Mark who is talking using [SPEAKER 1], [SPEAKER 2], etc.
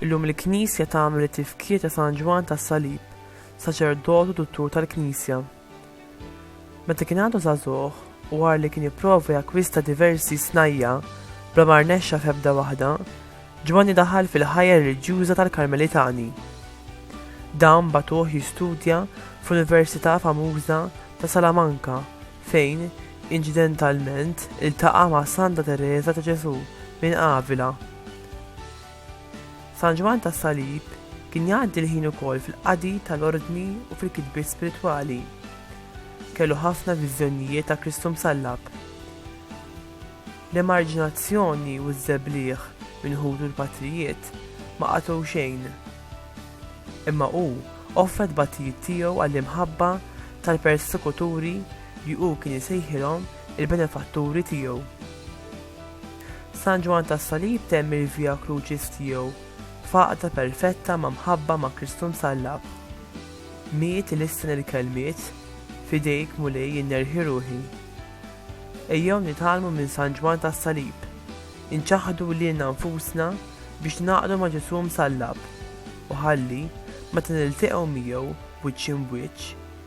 [SPEAKER 1] Illum il-Knisja tagħmel it-tifkir ta' San Ġwann tas-Salib, saċerdot u duttur tal-Knisja. Meta kien għadu żagħżugħ u wara li kien ipprova jakkwista diversi snajja' bla ma rnexxa f'ebda waħda, Ġwanni daħal fil-ħajja reliġjuża tal-Karmelitani. Dawn bagħtuh jistudja fl-Università famuża ta' Salamanca fejn, inċidentalment, iltaqa' ma' Santa Tereża ta' Ġesù minn Avila. San Ġwann tas-Salib kien jgħaddi l-ħin ukoll fil-qadi tal-ordni u fil-kitbiet spiritwali. Kellu ħafna viżjonijiet ta' Kristu msallab. L-emarġinazzjoni u ż-żebliegħ minn ħutu l-patrijiet ma qatgħu xejn. Imma hu offra t-tbatijiet tiegħu għall-imħabba tal-persekuturi li hu kien isejħilhom il-benefatturi tiegħu. San Ġwann tas-Salib temm il-Via Crucis tiegħu f'għaqda perfetta ma' mħabba ma' Kristu msallab. Miet ilissen il-kelmiet, F'idejk, Mulej, jien nerħi ruħi. Ejjew nitgħallmu minn San Ġwann tas-Salib, inċaħħdu lilna nfusna biex ningħaqdu ma' Ġesù msallab, u ħalli, meta nilteqgħu miegħu wiċċ imb'wiċċ,